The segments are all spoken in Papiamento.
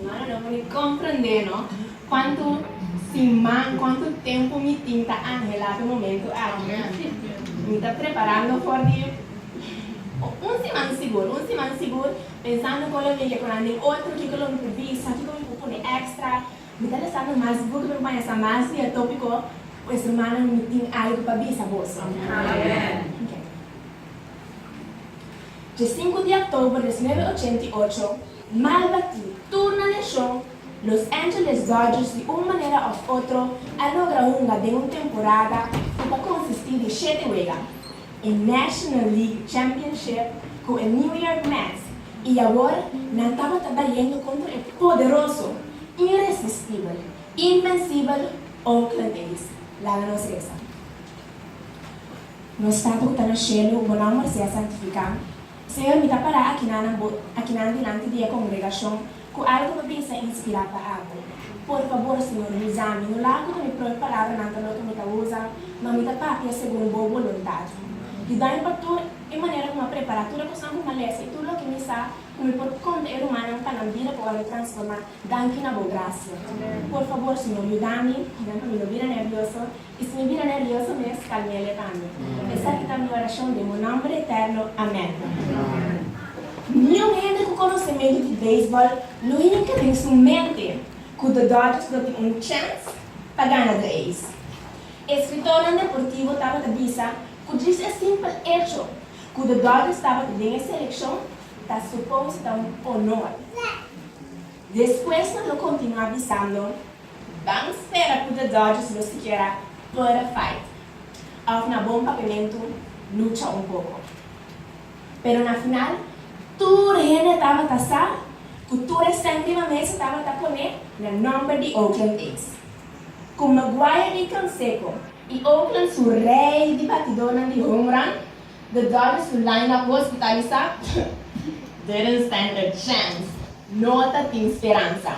Humanonan por ni comprende no cuanto siman, cuanto tempo mi tin ta angela pe momento aki. Mi ta preparando for di un siman sigur, un siman sigur, pensando con lo mire cunan den otro kico lo mi por bisa, kico mi por pone extra. Mi ta lezando mas buki pa mi banja sa mas dia topico, Pues rumannan mi tin algo pa bisa boso. Dje sinku di october desnuebe ochenta i ocho, Malba tin tur na nashon, Los Angeles Dodgers di un manera òf otro a logra hunga den un temporada ku ta konsistí di shete wega, e National League Championship ku e New York Mets, i awor nan tabata bayendo kontra e poderoso, inresistibel, invensibel Oakland A's. Laga nos resa nos Tata ku ta na shelu, bo nòmber sea santifiká, Señor, mi ta pará akinan akinan dilanti di e kongregashon ku algu lo bin sa inspirá pa abo. Por fabor, Señor, usa mi. No laga ku ta mi propi palabranan ta loke mi ta usa, ma mi ta papia segun bo boluntat. Yuda mi pa tur e manera ku mi a prepará tur e kosnan ku mi a lesa i tur loke mi sa, ku mi por konta e rumannan pa nan bida por a lo transformá danki na bo grasia. Por fabor, Señor, yuda mi, pa mi no bira nervioso I si mi bira nervioso mes, kalm'é e levant'é. Esaki ta mi orashon den bo nòmber eterno, amèn. Ni un hende ku konosementu di beisbòl lo hinka den su mente ku The Dodgers lo tin un chèns pa gana The A's. E eskritònan deportivo tabata bisa ku dris e simpel echo ku The Dodgers tabata den e selekshon ta supos ta un onor. Despues nan lo kontinuá bisando. Ban spera cu the Dodgers lo sikiera perde fight of na bon papiamento lucha un poco. Pero na final tur hende tabata sa cu tur e centima mesa tabata pone na nomber di Oakland A's. Cu McGwire di Canseco y Oakland su rey di batidornan di home run, the Dodgers su lineup hospitalisa didn't stand a chance, no ta tin speransa.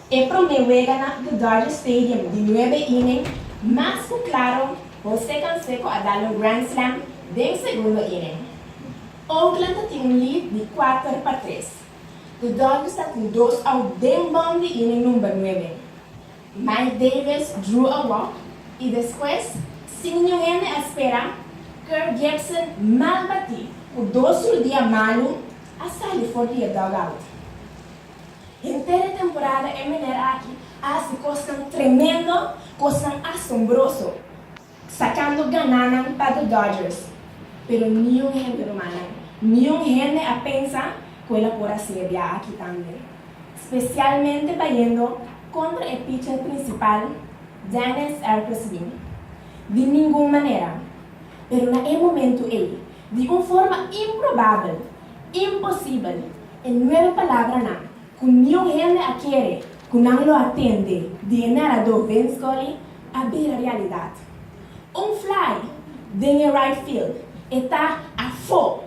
E prome weganan di Dodger Stadium di nuebe inning, Max ku klaro, Jose Canseco a dal un grand slam den segundo inning. Oakland ta tin un lead di kuater pa tres. Di Dodgers ta ku dos out den bòm di inning number nuebe. Mike Davis drew a walk i despues, sin niun hende a spera, Kirk Gibson mal batí ku dos rudia malu a sali for di e dugout. Henter e temporada e meneer aki a hasi kosnan tremendo, kosnan asombroso, sakando gananan pa The Dodgers, pero niun hende rumannan, niun hende a pensa ku el a por hasi e biaha aki tambe, spesialmente bayendo kontra e picher prinsipal Dennis Ercosby. Di ningun manera. Pero na e momentu ei, di un forma improbabel, imposibel, E nuebe palabranan ku niun hende a kere ku nan lo a tende di e naradó Vin Scully a bira realidat. Un fly den e right field, e ta afó!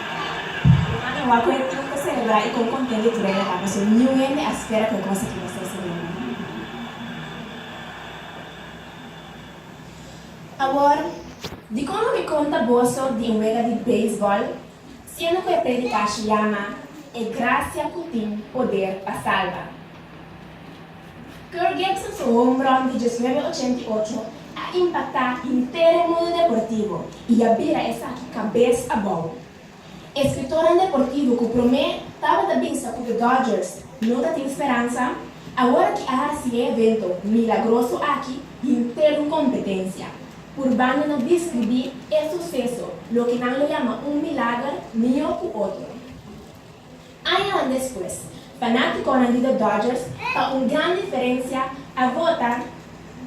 Ruman e wak cu e club ta celebra y con conten di true a paso niun hende a spera cu e cos aki ta ser celebra. Awor, dicon lo mi conta boso di un wega di baseball siendo cu e predicashi yama E gracia cu tin poder pa salba? Curt Gibson su homeron di diesnuebe ochenta i ocho a impactá henter e mundo deportivo i a bira esaki cabes abou. E scritoran deportivo cu prome tabata bisa cu The Dodgers no ta tin speransa, awor ki a haci e evento milagroso aki henter un competencia, purbando na discribi e suceso loke nan lo yama un milager mihó cu otro. Añanan despues, fanaticonan di The Dodgers pa un gran diferencia a vota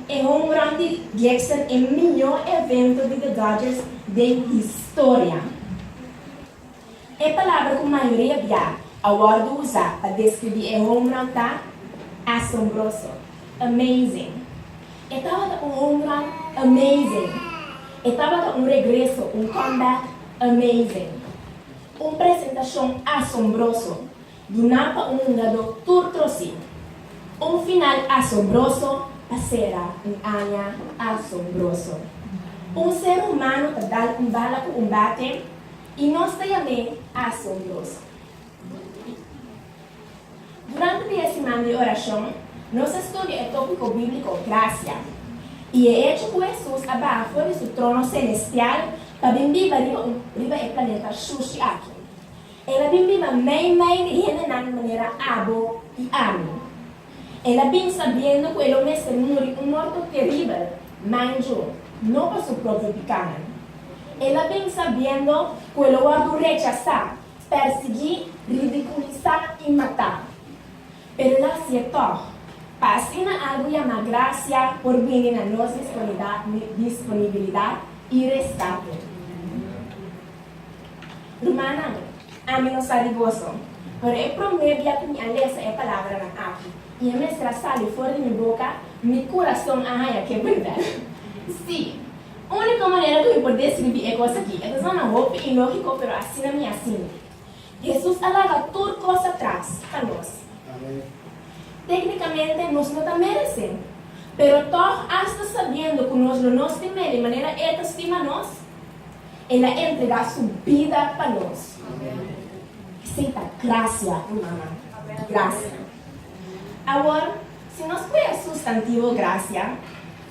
e home run di Gibson e miño evento di The Dodgers den historia. E palabra cu mayoria bia a wordo usa pa describi e home run ta asombroso, amazing. E tabata un home run amazing. E tabata un regreso, un comeback amazing. Un presentashon asombroso duná pa un hungadó tur trosí. Un final asombroso pa sera un aña asombroso. Un ser humano ta dal un bala ku un bate i nos ta yam'é asombroso. Durante pia siman di orashon, nos a studia e tópiko bíbliko Grasia i e echo ku Hesus a baha for di su trono selestial pa bin biba riba e planeta shushi aki. El a bin biba meimei di hendenan di manera abo i ami. El a bin sabiendo ku e lo mester muri un morto teribel, manju, no pa su propio pikánan. El a bin sabiendo ku e lo wòrdu rechasá. Persiguí, ridiculisá i matá. Pero nan hasié tòg, pa asina algu yamá gracia por bini na nos disponibilidad i rescate. Rumannan, ami no sa di boso, pero e promé bia ku mi a lesa e palabranan aki i e mester a sali for di mi boka, mi kurason a haña ke burdel. Sí! Úniko manera ku mi por deskribí e kos akí, e ta sona hopi ilógiko, pero asina mi a sinti. Hesus a laga tur kos atras pa nos. Téknikamente nos no ta meresé, pero tòg asta sabiendo ku nos lo no stima el di manera e ta stima nos, el a entregá su bida pa nos. Esei ta grasia, rumannan. Grasia. Awor, si nos pudi asusta antigua grasia.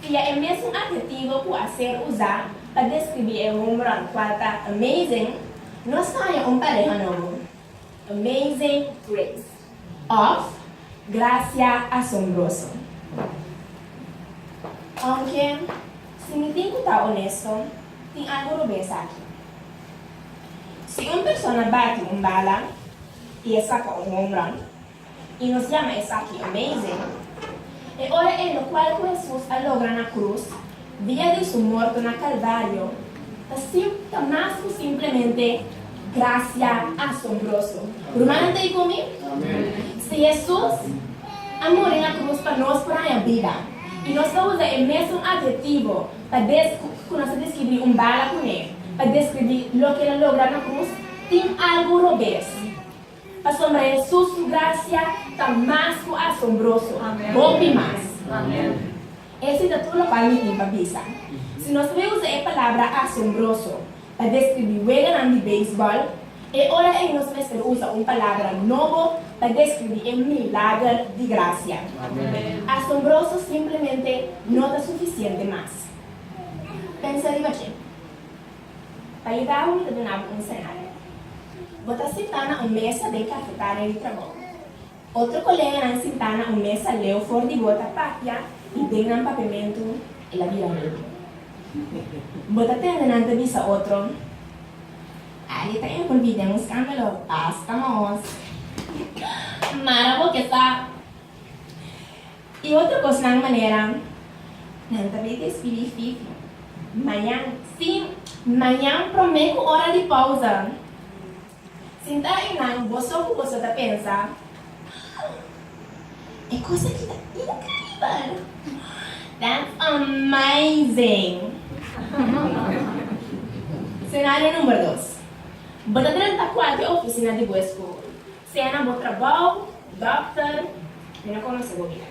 Pia e mesun adhetivo ku a ser usá pa deskribí e hombronan kual ta amazing nos ta haña un pareha nobo, Amazing Grace òf Grasia Asombroso. Ounke si mi tin ku ta onesto, tin algu rubí esaki. Si un persona bati un bala i e saka un hombron, I nos yama esaki amazing. E ora e lokual ku Hesus a logra na krus, dia di su morto na Kalvario, ta simp ta mas ku simplemente grasia asombroso. Rumannan ta ei ku mi? Si Hesus a muri na krus pa nos por haña bida, i nos ta usa e mesun adhetivo pa des ku nos ta deskribí un bala kuné, pa deskribí loke el a logra na krus, tin algu robes. Pasobra Hesus su gracia ta mas cu asombroso. Hopi mas. Esi ta tur locual mi tin pa bisa. Si nos ta bin usa e palabra asombroso pa describi weganan di baseball, e ora ei nos mester usa un palabra nobo pa describi e milager di gracia. Asombroso simplemente no ta suficiente mas. Pensa riba dje. Pa yuda bo mi ta duna bo un senario. Bo ta sinta na un mesa den kafetaria di trabou. Otro koleganan sinta na un mesa leu for di bo ta papia i den nan papiamentu el a bira rei. Bo ta tende nan ta bisa otro, Ari ta envolvi den un skandalo, basta nos! Mara bo ke sa. I otro cosnan manera nan ta bita e spilí fifi mañan. Sí, mañan prome cu ora di pausa. Sintá einan boso cu boso ta pensa, Haa! E cos aki ta increíbel! That's amazing! Senario number dos. Bo ta drenta cuater oficina di bo escool. Sea na bo trabou, dòkter, mi no konosé bo bia.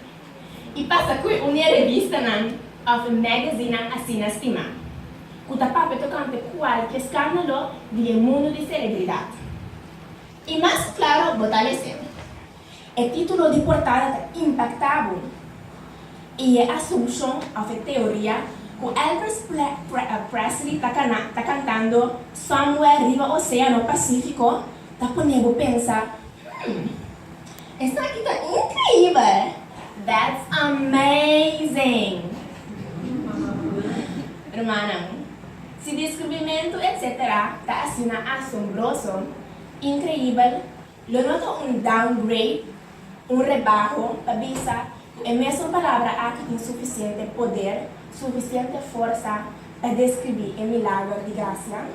I pasa ku e unia revistanan òf e magazinan asina stimá, ku ta papia tokante kualke skándalo di e mundu di selebridat. I mas klaro bo ta mesté, e título di portada ta impaktá bo, i e asumshon òf e teoria ku Elvis Presley ta kantando Somewhere riba oséano Pasífiko, Ta pone bo pensa, Hm, esaki ta increibel! That's amazing! Rumannan, si descubrimentu etc. Ta asina asombroso, increibel, lo no ta un downgrade Un rebaho ta bisa ku e mesun palabra aki tin sufisiente poder, sufisiente forsa pa deskribí e milager di grasia.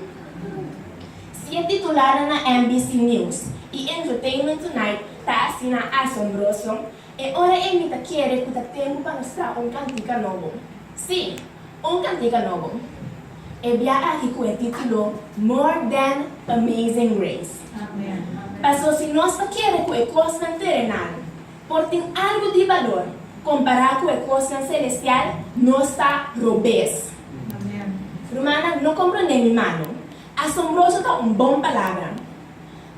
Si e titularnan na NBC News i Entertainment Tonight ta asina asombroso, e ora emi ta kere ku ta tempu pa nos traha un kantika nobo. Sí! Un cantica nobo. E biaha aki cu e titulo More Dan Amazing Grace. Paso si nos ta kere cu e cosnan terenal por tin algo di balor compara cu e cosnan celestial, nos ta robes. Rumannan, no comprende mi malo. Asombroso ta un bon palabra.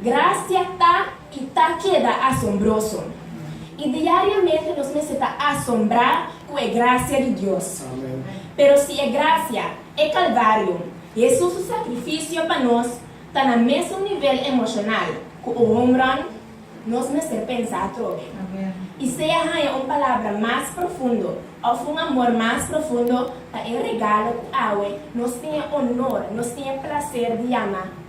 Gracia ta i ta keda asombroso, i diariamente nos mester ta asombrá ku e gracia di Dios. Pero si e gracia, e Kalvario, Hesus su sakrifisio pa nos, ta na mesun nivel emoshonal ku un home run, nos mester pensa atrobe. I sea haña un palabra mas profundo òf un amor mas profundo pa e regalo ku awe nos tin e onor, nos tin e plaser di yama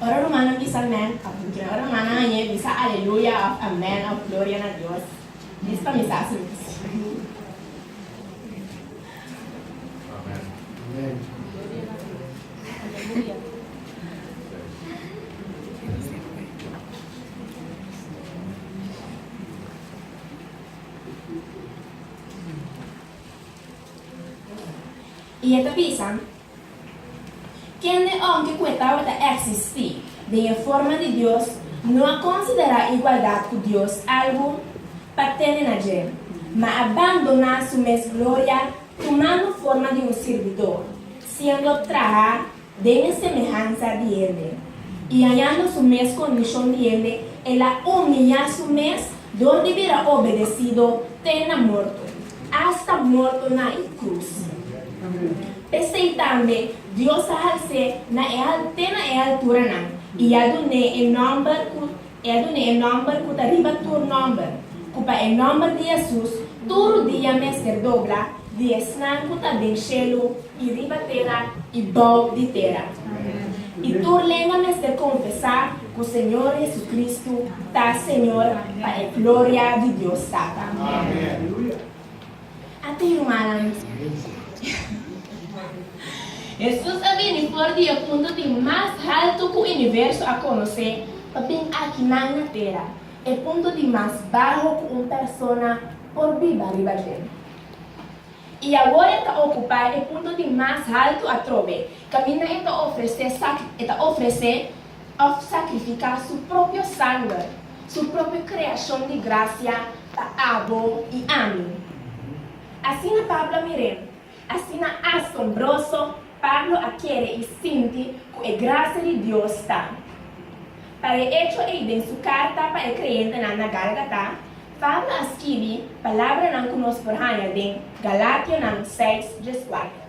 Ora rumannan bisa mèn òf lukina. Ora rumannan a ñe bisa aleluya òf amèn òf gloria na Dios, dis pa mi sa su mi ta sirbi. I e ta bisa, Kende òm ke kue tabata eksistí den e forma di Dios no a konsiderá igualdat ku Dios algu pa tene na dje, ma a bandoná su mes gloria tumando forma di un sirbidó, siendo trahá Den e semehansa di hende, i hañando su mes kondishon di hende, el a umiyá su mes dor di bira obedesido te na morto, asta morto na e krus. P'esei tambe Dios a hals'é na e al te na e alturanan, i a dun'é e nòmber ku E a duna e nòmber ku ta riba tur nòmber, ku pa e nòmber di Yèsus tur rudia mester dobla, di esnan ku ta den shelu i riba tera i bou di tera. I tur lengua mester konfesá ku Señor JesuCristu ta Señor pa e gloria di Dios Tata. Amen. A ta yumanan. Hesus a bini for di e punto di mas haltu ku universo a konosé pa bin aki nan na tera, e punto di mas baho ku un persona por biba riba den. I awor e ta okupá e punto di mas haltu atrobe, kaminda e ta ofresé sa e ta ofresé. òf sakrifiká su propio sanger, su propio kreashon di grasia pa abo i ami. Asina Pablo a mir'é, asina asombroso Pablo a kere i sinti ku e grasia di Dios ta. Pa e echo ei den su karta pa e kreentenan na Gálgata, Pablo a skibi palabranan ku nos por haña den Galatianan seis djes kuater.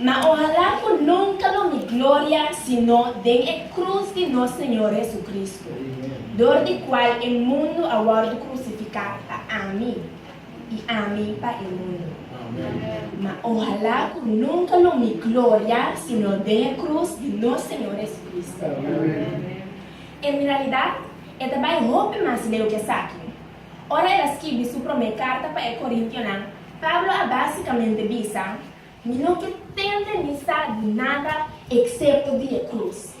Ma ohalá ku nunka lo mi gloria sino den e krus di nos Señor Hesukristu, dor di kual e mundu a wòrdu krusifiká pa ami, i ami pa e mundu. Ma ohalá ku nunka lo mi gloria sino den e krus di nos Señor Hesukristu. En realidat, e ta bai hopi mas leu ku esaki. Ora el a skibi su promé karta pa e korintionan, Pablo a básikamente bisa, Mi no ke tende ni sa di nada eksepto di e krus.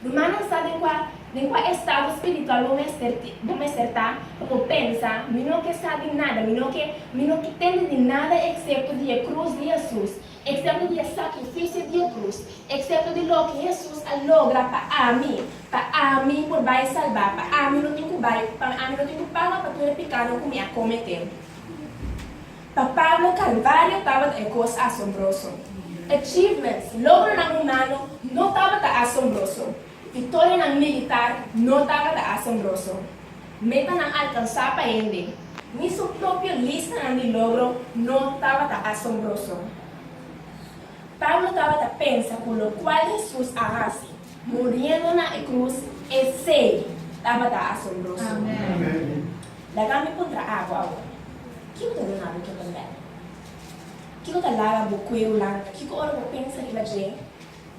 Rumannan sa den kua den kua estado spiritual bo mester bo mester ta pa bo pensa, Mi no ke sa di nada, mi no ke mi no ke tende di nada eksepto di e krus di Hesus. Excepto di e sacrificio di e cruz, excepto di loke Hesus a logra pa ami, pa ami por bay salba, pa ami no tin cu bay, pa ami no tin cu paga pa tur e picado cu mi a comete. Pa Pablo Calvario tabata e cos asombroso. Achievements, logronan humano, no tabata asombroso. Victorianan militar no tabata asombroso. Metanan alkansá pa hende, ni su propio listanan di logro no tabata asombroso. Pablo tabata pensa ku lokual Hesus a hasi, muriendo na e krus, esei tabata asombroso. Laga mi puntra abo awor, Kiko ta duna bo totondad? Kiko ta laga bo kueru langa? Kiko ora bo pensa riba dje?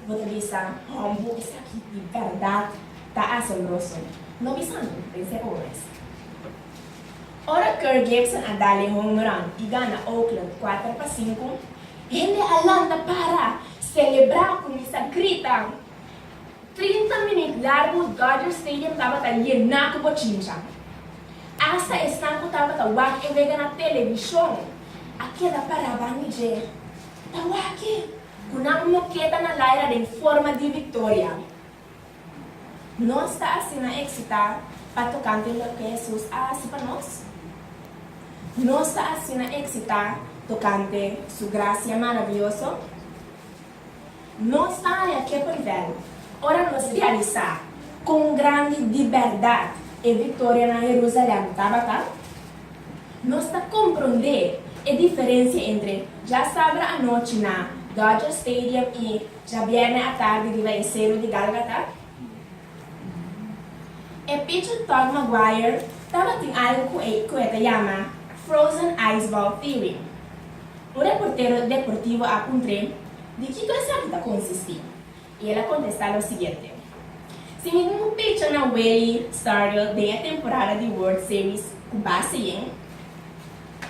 Bo ta bisa, Combo esaki di berdad ta asombroso! No bisa mi, pens'e omes. Ora Kirk Gibson a dal e home run i gana Oakland kuater pa sinku, hende a lanta para celebra cu mi sa grita. Trinta minut largu Dodger Stadium tabata yena cu bochincha. Asta esnan cu tabata wak e wega na television a keda para bani dje. Tawaki! Cu nan no keda na laira den forma di victoria. Nos ta asina excita pa tocante loke Jesus a haci pa nos. Nos ta asina excita tocante Su gracia maravioso. Nos ta haña ke por vel ora nos realisa con grandi di berdad e victoria na Jerusalem tabata. Nos ta komprondé e diferensia entre dja sabra anochi na Dodger Stadium i dja bièrnè atardi riba e sero di Gálgata. E picher Tod Maguire tabatin algu ku e ku e ta yama Frozen Ice Ball Theory. Un reportero deportivo a puntr'é di kiko esaki ta konsistí. I el a kontestá lo siguiente, Si mi bin picha na Willie Stargell den e temporada di World Series ku base yen,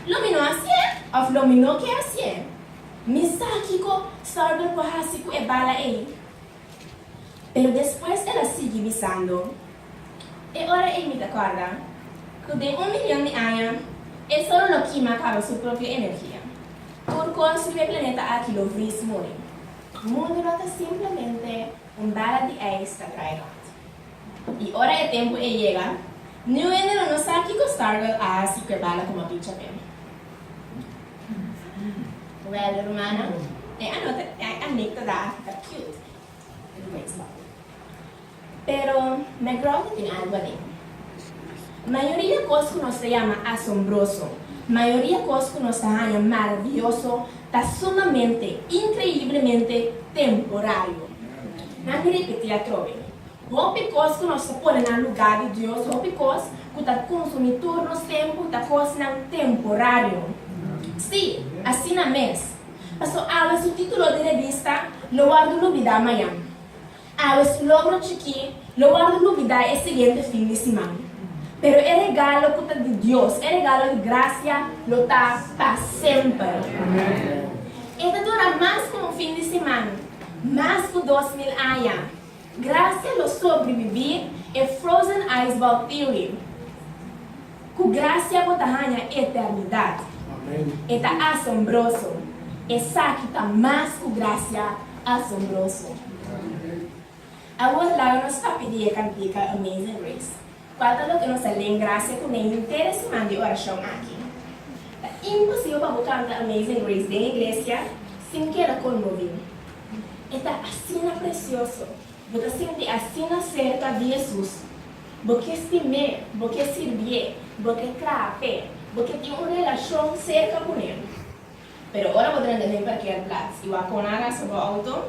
lo mi no hasié òf lo mi no ke hasié? Mi sa kiko Stargell por hasi ku e bala ei. Pero despues el a sigui bisando, E ora ei mi ta kòrda ku den un milyòn di aña e sol lo kima kaba su propio energia, tur kos riba e planeta aki lo vris muri. Mundu no ta simplemente un bala di ijs ta drai rond. I ora e tempu ei yega, niun hende lo no sa kiko Stargirl a hasi ku e bala ku mabicha tem. Wèl, rumannan, e anekdota ta cute. Pero McGraw ta tin algu aden. Mayoria kos ku nos ta yama asombroso, mayoria kos ku nos ta haña maravioso, ta sumamente, inkreiblemente temporario. Nan mi repetí atrobe. Hopi kos ku nos ta pone na lugá di Dios, hopi kos ku ta konsumí tur nos tempu, ta kosnan temporario. Sí, asina mes. Pastor Alba su título di revista lo wòrdu lubidá mañan. Awe su logro chikí lo wòrdu nubidá e siguiente fin di siman. Pero e regalo ku ta di Dios, e regalo di grasia, lo ta pa semper. E ta dura mas ku un fin di siman, mas ku dos mil aña. Grasia lo sobribibí e Frozen Ice Vault Theory. Ku grasia bo ta haña e eternidat. E ta asombroso. Esaki ta mas ku grasia asombroso. Awor laga nos papia di e kantika Amazing Grace, kual ta loke nos a len grasia kuné henter e siman di orashon aki. Ta imposibel pa bo kanta Amazing Grace den e iglesia sin keda konmoví. E ta asina presioso. Bo ta sinti asina serka di Hesus? Bo ke stim'é? Bo ke sirbié? Bo ke trap'é? Bo ke tin un relashon serka kuné? Pero ora bo drenta den parkea plats i bo a kona rasa bo outo?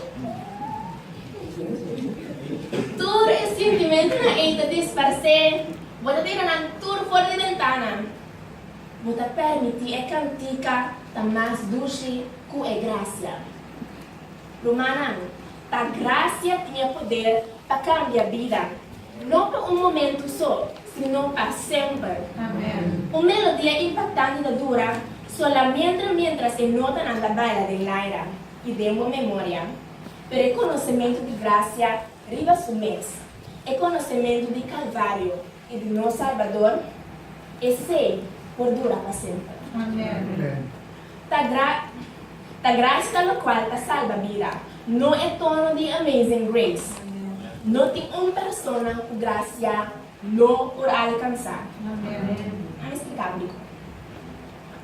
Tur e sintimentunan ei ta disparsé. Bo ta tira nan tur for di bentana. Bo ta permití e kantika ta mas dushi ku e grasia. Rumannan, ta gracia tiña poder pa cambia bida, no pa un momento so, sino pa semper. Un melodia impactante ta dura solamentra mientras e notanan ta baila den laira y den bo memoria, pero e conocemento di gracia riba su mes, e conocemento di Calvario, I di nos Salbador, esei por dura pa semper. Amen. Ta gra ta gracia locual ta salba bida, no e tono di Amazing Grace. No tin un persona cu gracia lo por alcansa. A mi splica brico.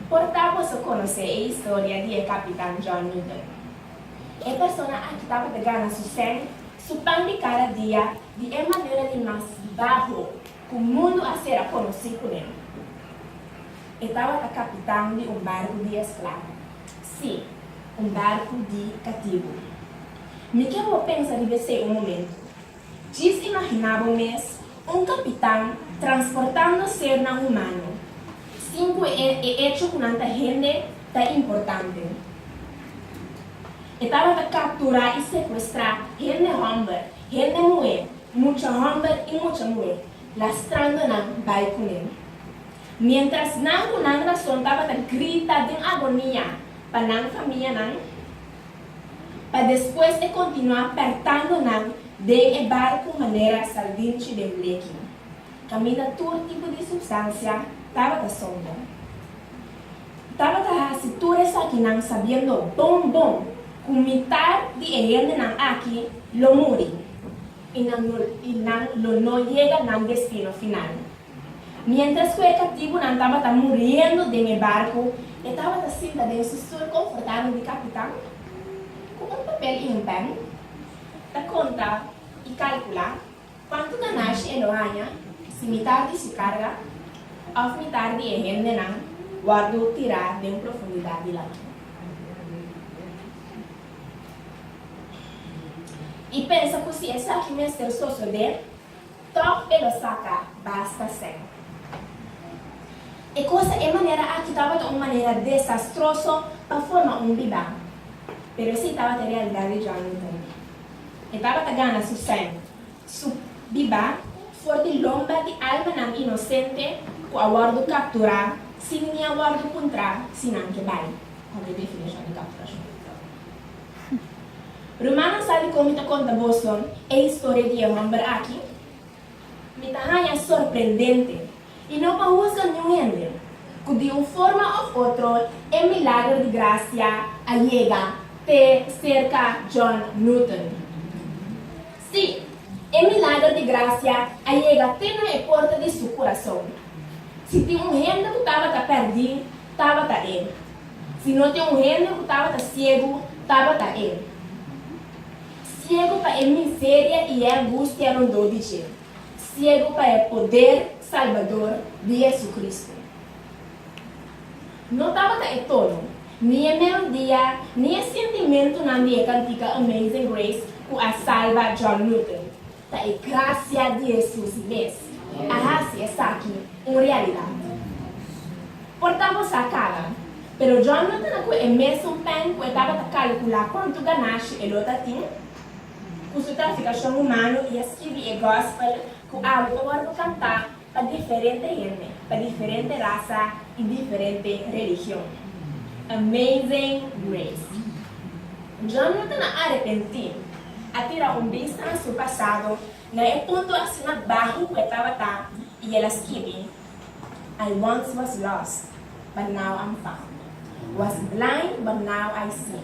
Por ta boso conoce e historia di e Capitan John Newton. E persona aki tabata gana su seng Su pan di kada dia di e manera di mas baho ku mundu a sera konosí kuné. E tabata kapitan di un barku di esklabo, sí, un barku di katibu. Mi ke bo pensa riba esei un momentu. Djis imaginá bo mes Un kapitan transportando sernan humano sin ku e echo ku nan ta hende ta importante. E tabata kapturá i sekuestrá hende hòmber, hende muhé, mucha hòmber i mucha muhé, lastrando nan bai kuné. Miéntras nan ku nan rason tabata grita den agonia pa nan famianan, pa despues e kontinuá pèrtando nan den e barku manera saldinchi den bleki. Kaminda tur tipo di supstansia tabata sompo. Tabata hasi tur esakinan sabiendo bon bon ku mitar di e hendenan aki lo muri i nan lo no yega nan destino final. Miéntras ku e kaptibunan tabata muriendo den e barku, e tabata sinta den su stul konfortabel di kapitan ku un papel i un pèn ta konta i kalkula kuantu ganashi e lo haña si mitar di su karga òf mitar di e hendenan wòrdu tirá den profundidat di lamar. I pensa ku si esaki mester sosodé. Tòg e lo saka, basta sèn. E kosa e manera aki tabata un manera desastroso pa forma un bibá, pero esei tabata e realidat di Johnny tambe. E tabata gana su sèn, su bibá, for di lomba di almanan inosente ku a wòrdu kapturá sin ni a wòrdu puntrá si nan ke bai, pasobra e definishon di kapturashon. Ruman a sa di kon mi ta konta boso e historia di e hòmber aki? Mi ta haña sorprendente, i no pa husga niun hende, ku di un forma òf otro e milager di grasia a yega te serka John Newton. Sí, e milager di grasia a yega te na e porta di su kurason. Si tin un hende ku tabata pèrdí, tabata e. Si no tin un hende ku tabata siegu, tabata e siegu pa e miseria i e angustia rondó di dje, siegu pa e poder salbador di JesuCristu. No tabata e tono, ni e melodia, ni e sintimentunan di e kantika Amazing Grace ku a salba John Newton. Ta e gracia di Hesus mes. A haci esaki un realidad. Por ta bo sa cala, pero John lo tene cu e mesun pen cu e tabata calcula cuantu ganashi e lo ta tin. Cu su traficacion humano i a skibi e Gospel cu awe pa worde canta pa diferente hende, pa diferente rasa i diferente religion. Amazing Grace. John no ta na arepentí, a tira un bista na su pasado na e punto asina baho ku e tabata i el a skibi, I once was lost, but now I'm found, was blind, but now I see.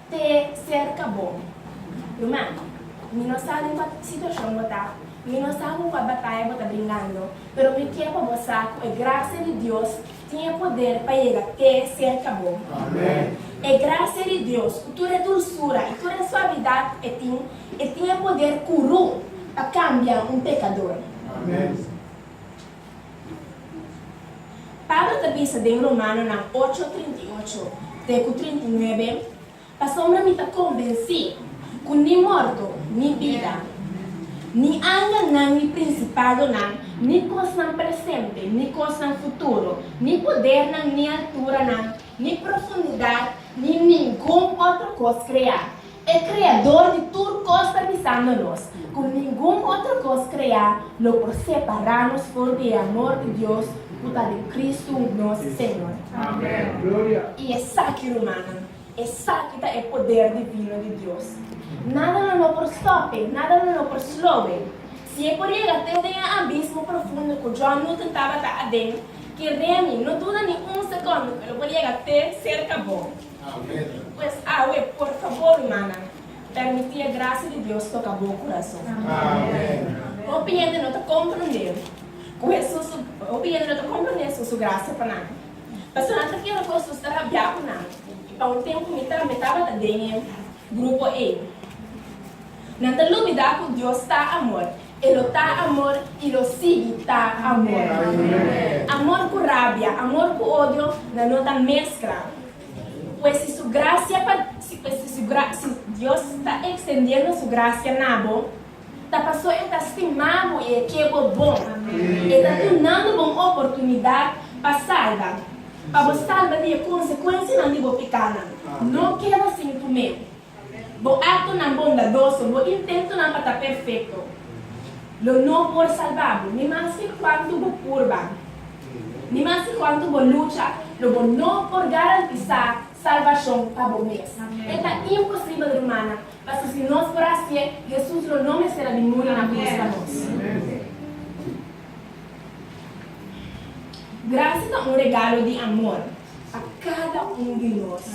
Te serka bo. Ruman, mi no sa den kua situashon bo ta, mi no sa ku kua bataya bo ta bringando, pero mi ke pa bo sa ku e grasia di Dios tin e poder pa yega te serka bo. E grasia di Dios, ku tur e dulsura i tur e suavidat e tin, e tin e poder kuru pa kambia un pekador. Pablo ta bisa den Romanonan ocho trinta i ocho te ku trinta i nuebe, Pasobra mi ta kombensí ku ni morto, ni bida, ni angelnan, ni prinsipadonan, ni kosnan presente, ni kosnan futuro, ni podernan, ni alturanan, ni profundidat, ni ningun otro kos kreá. E Kreador di tur kos ta bisando nos ku ningun otro kos kreá lo por separá nos for di e amor di Dios ku ta den Kristu nos Señor. I esaki, rumannan, esaki ta e poder divino di Dios. Nada lo no por stòp'e, nada lo no por slow'e. Si e por yega te den e abismo profundo ku John Newton tabata aden, Ki Reni no duda ni un sekondo ku e lo por yega te serka bo. Pues awe, por fabor rumannan, permití e grasia di Dios toka bo kurason. Hopi hende no ta komprendé ku Hesus su hopi hende no ta komprendé Hesus su grasia pa nan. Personanan ta kere ku Hesus ta rabiá ku nan, i pa un tempu mi tambe tabata den e grupo ei. Nan ta lubidá ku Dios ta amor. E lo ta amor i lo sigui ta amor. Amor ku rabia, amor ku odio nan no ta meskla. Pues si su grasia pa si Dios ta ekstendiendo su grasia na bo, ta pasó e ta stima bo i e ke bo bon. E ta dunando bo un oportunidat pa salba, pa bo salba di e konsekuensianan di bo pikánan. No keda sin tumé. Bo aktonan bondadoso, bo intentonan pa ta perfekto lo no por salba bo. Ni mas ke kuantu bo purba, ni mas ke kuantu bo lucha, lo bo no por garantisá salbashon pa bo mes. E ta imposibel, rumannan, pasobra si nos por hasié, Hesus lo no mester a bin muri na krus pa nos. Grasia ta un regalo di amor pa kada un di nos.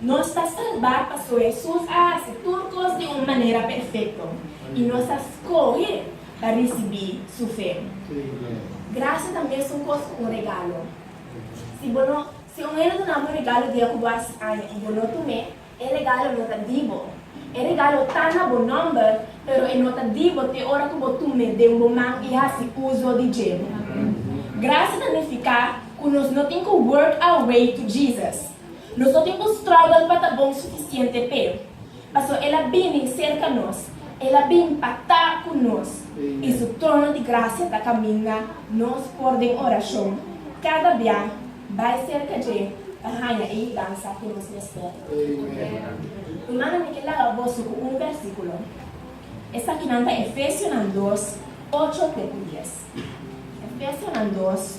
Nos ta salbá pasobra Hesus a hasi tur kos di un manera perfekto i nos a skohe pa risibí su fe. Grasia ta mesun kos ku un regalo. Si bo no si un hende duna bo un regalo dia ku bo hasi aña i bo no tum'é, e regalo no ta di bo. E regalo ta na bo nòmber, pero e no ta di bo te ora ku bo tum'é den bo man i hasi uso di dje. Grasia ta nifiká ku nos no tin ku work our way to Jesus. Nos no tin ku struggle pa ta bon sufisiente p'e, pasobra el a bini serka nos, el a bin patá ku nos, i su trono di grasia ta kaminda nos for den orashon kada bia. Bai serka dje pa haña e yudansa ku nos mester. Rumannan, mi ke laga boso ku un bèrsikulo. Esakinan ta Efesionan dos, ocho te ku dies. Efesionan dos.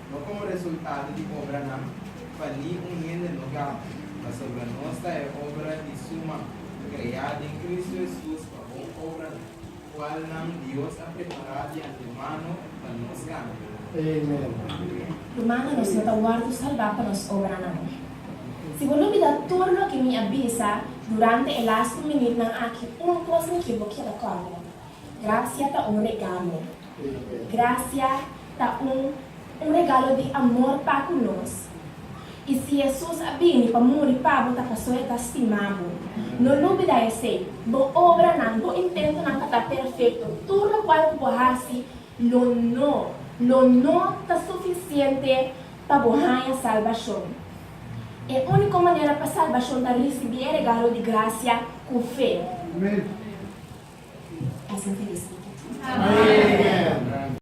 No komo resultado di obranan, pa ni un hende no gama, pasobra nos ta e obra di Su man, kreá den Kristu Hesus pa bon obranan, kualnan Dios a prepará di antemano pa nos gana. Lo manda nos no ta wòrdu salbá pa nos obranan. Si bo lubidá tur loke mi a bisa durante e las ku minutnan aki, un kos mi ke bo keda kòrda, Grasia ta un regalo. Gracia ta un un regalo di amor pa cu nos. Y si Jesus a bini pa muri pa bo ta paso e ta stima bo. No lubida esey, bo obranan, bo intentonan ka ta perfecto. Tur locual cu bo haci lo no, lo no ta suficiente pa bo haña salbacion. E úniko manera pa salbashon ta risibí e regalo di grasia ku fe.